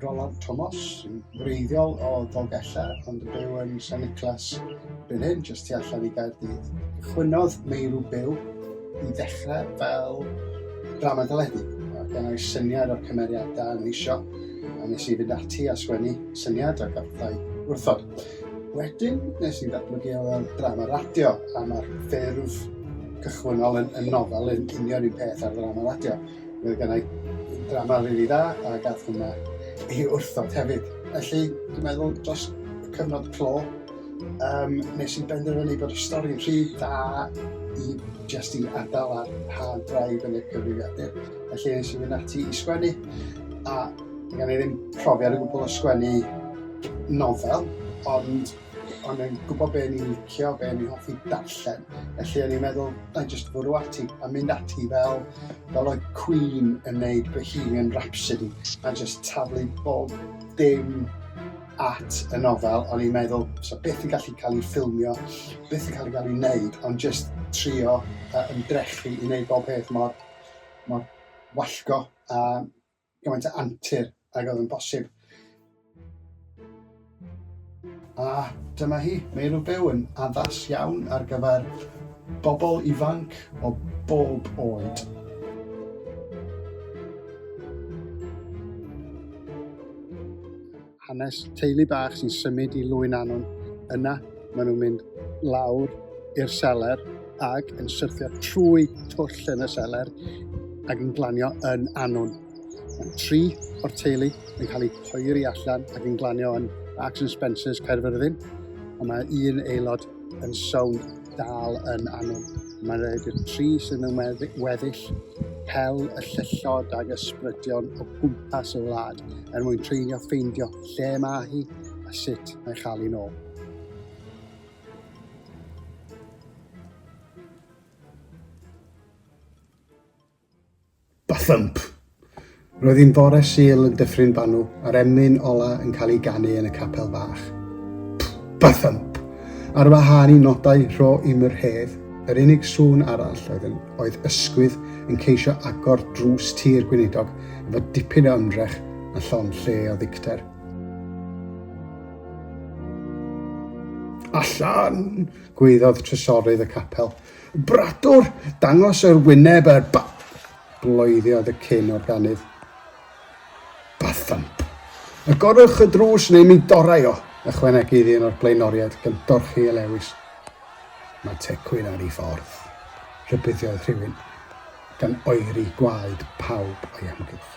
Roland Thomas, sy'n wreiddiol o Ddolgella, ond yn byw yn San Niclas byn hyn, jyst tu allan i Gaerdydd. Chwynodd Meirw Byw i ddechrau fel drama deledu. Gan ei syniad o'r cymeriadau yn eisiau, a nes i fynd ati a sgwennu syniad a gathau wrthod. Wedyn, nes i ddatblygu o fel drama radio, a mae'r ffurf cychwynnol yn, yn nofel yn union un peth ar drama radio. Mae gen i drama rili dda, a gath hwnna i wrthod hefyd. Felly, dwi'n meddwl, dros cyfnod clo, um, nes i benderfynu bod y stori'n rhy dda i jyst i adael ar hard drive yn y cyfrifiadur. Felly, nes i fynd ati i sgwennu, a Mae gen i ddim profiad o gwbl o sgwennu nofel, ond o'n i'n gwybod be ni'n licio, be ni'n hoffi darllen. Felly o'n i'n meddwl, na i jyst fwrw ati a mynd ati fel, fel oedd Queen yn neud Bohemian Rhapsody a jyst taflu bob dim at y nofel, o'n i'n meddwl, so beth yn gallu cael ei ffilmio, beth yn cael ei gael ei wneud, ond jyst trio uh, ymdrechu i wneud bob peth mor, mor wallgo a gymaint o antur ag oedd yn bosib. A dyma hi, Meirw Byw yn addas iawn ar gyfer bobl ifanc o bob oed. hanes teulu bach sy'n symud i Lwyn Anwn. Yna, maen nhw'n mynd lawr i'r seler ac yn syrthio trwy twll yn y seler ac yn glanio yn Anwn. Mae tri o'r teulu yn cael eu poeri allan ac yn glanio yn Marks and Spencer's Caerfyrddin, ond mae un aelod yn sownd dal yn Anwn. Mae'n rhaid i'r tri sydd mewn weddill pel y llyllod ag ysbrydion o gwmpas y wlad er mwyn treulio ffeindio lle mae hi a sut mae chael hi'n ôl. Bathump! Roedd hi'n fore Sul yn Dyffryn Banw a'r emyn ola yn cael ei ganu yn y capel fach. Pff-ba-thump! Ar wahân i nodau rho i'm yr hedd, yr unig sŵn arall oedd yn oedd ysgwydd yn ceisio agor drws tir gweinidog efo dipyn o ymdrech a llond lle o ddicter. Allan! gwaeddodd trysorydd y capel. Bradwr, dangos yr wyneb ar ba... Bloeddodd y cyn organydd. A thump! Agorwch y drws neu mi dorrai o! ychwanegodd un o'r blaenoriaid gan dorchi ei lewys. Mae tecwyn ar ei ffordd, rhybuddiodd rhywun, gan oeri gwaed pawb o'i amgylch.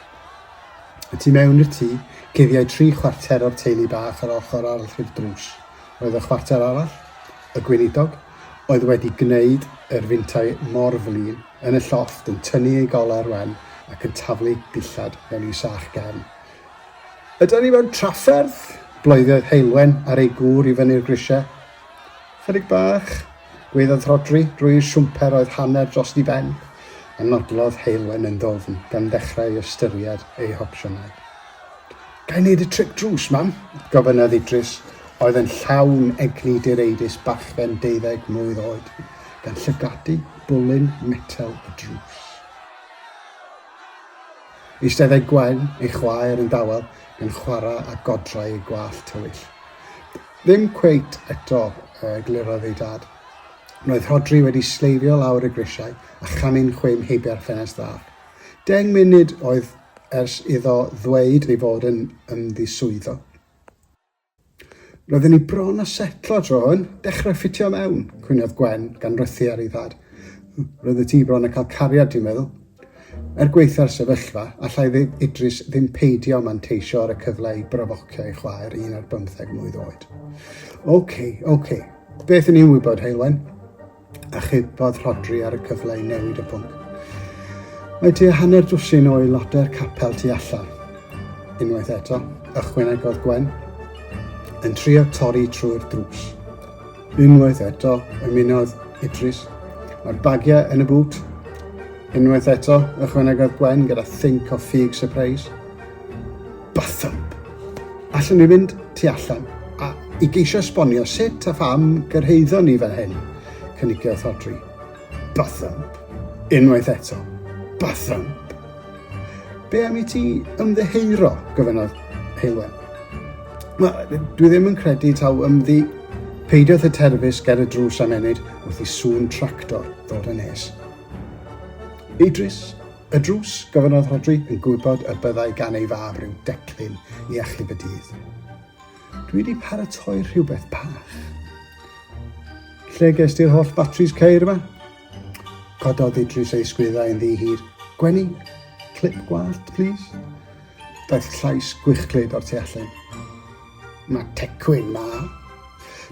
Y tu mewn i'r tŷ, cuddiau tri chwarter o'r teulu bach yr ochr arall i'r drws. Oedd y chwarter arall, y gweinidog, oedd wedi gwneud yr fintau mor flin, yn y llofft yn tynnu ei goler wen ac yn taflu dillad mewn i sach gefn. Ydan ni mewn trafferth? bloeddodd Heulwen ar ei gŵr i fyny'r grisiau. Chydig bach, gwaeddodd Rhodri drwy'r siwmper oedd hanner dros i ben, a nodlodd Heulwen yn ddwfn gan ddechrau ystyried ei hopsiynau. Ga i wneud y tric drws, mam? gofynnodd Idris, oedd yn llawn egni direidus bachgen deuddeg mlwydd oed. gan llygadu bwlyn metel y drws. Eisteddai Gwen, ei chwaer, yn dawel gan chwarae â godrau ei gwallt tywyll. Ddim cweit eto, eglurodd ei dad. Roedd Rhodri wedi sleifio lawr y grisiau a chanu'n chwim heibio'r ffenest fach. Deng munud oedd ers iddo ddweud ei fod yn ymddiswyddo. Roedden ni bron â setlo tro hwn, dechrau ffitio mewn, cwynodd Gwen, gan frethu ar ei thad. Roeddet ti bron â cael cariad, dwi'n meddwl. Er gwaetha'r sefyllfa, allai Idris ddim peidio manteisio ar y cyfle i brofocio ei chwaer un ar bymtheg mlwydd oed. OK, OK. Beth yn ni'n wybod, Heulwen? Achubodd Rhodri ar y cyfle i newid y pwnc. Mae tua hanner dwsin o aelodau'r capel tu allan. Unwaith eto, ychwanegodd Gwen, yn trio torri trwy'r drws. Unwaith eto, ymunodd Idris. Mae'r bagiau yn y bŵt. Unwaith eto, ychwanegodd Gwen gyda think o ffug surprise. Bathump. Allwn ni fynd tu allan a, i geisio esbonio sut a pham gyrhaeddon ni fel hyn? cynigiodd Rhodri. Bathump. Unwaith eto. Bathump. Be am i ti ymddeheuro? gofynnodd Heulwen. Wel, dwi ddim yn credu taw ymddi Peidiodd y terfus ger y drws am ennyd wrth i sŵn tractor ddod yn nes. Idris, Y drws, gofynnodd Rhodri, yn gwybod y byddai gan ei fab ryw declyn i achub y dydd. Dwi wedi paratoi rhywbeth bach. Lle ges ti'r holl batris ceir yma? Cododd Idris ei sgwyddau yn ddi hir. Gwenni, clip gwallt, please. Daeth llais gwychglyd o'r tu allan. Mae Tecwyn 'ma.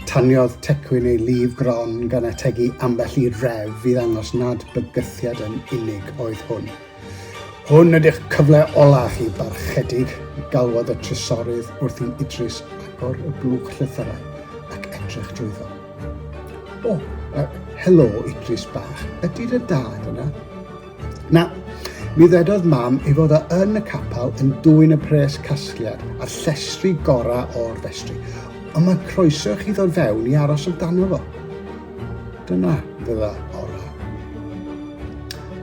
Taniodd Tecwyn ei lif gron gan ategu ambell i ref i ddangos nad bygythiad yn unig oedd hwn. Hwn ydy'ch cyfle ola chi, barchedig, galwodd y trysorydd wrth i Idris agor y blwch llythyrau ac edrych drwyddo. O, uh, helo, Idris bach, ydy dy dad yna? Na, mi ddedodd mam ei fod o yn y capel yn dwyn y pres casgliad a'r llestri gorau o'r festri, ond mae croeso chi ddod fewn i aros amdano fo. Dyna fydda orau.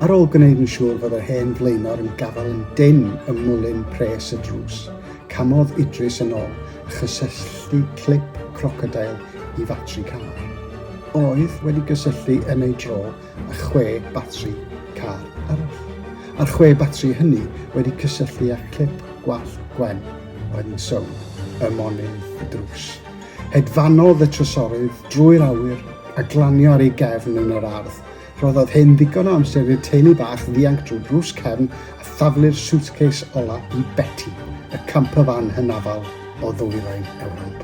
Ar ôl gwneud yn siŵr fod yr hen flaenor yn gafael yn dyn ym mwlyn pres y drws, camodd Idris yn ôl a chysylltu clip crocodail i fatri car. Oedd wedi gysylltu yn ei dro a chwe batri car arall, a'r chwe batri hynny wedi cysylltu â clip gwallt Gwen oedd yn sownd ym monyn y drws. Hedfanodd y trysorydd drwy'r awyr a glanio ar ei gefn yn yr ardd. Rhoddodd hyn ddigon o amser i'r teulu bach ddianc drwy drws cefn a thaflu'r suitcase ola i Betty, y campervan hynafol o ddwyrain Ewrop.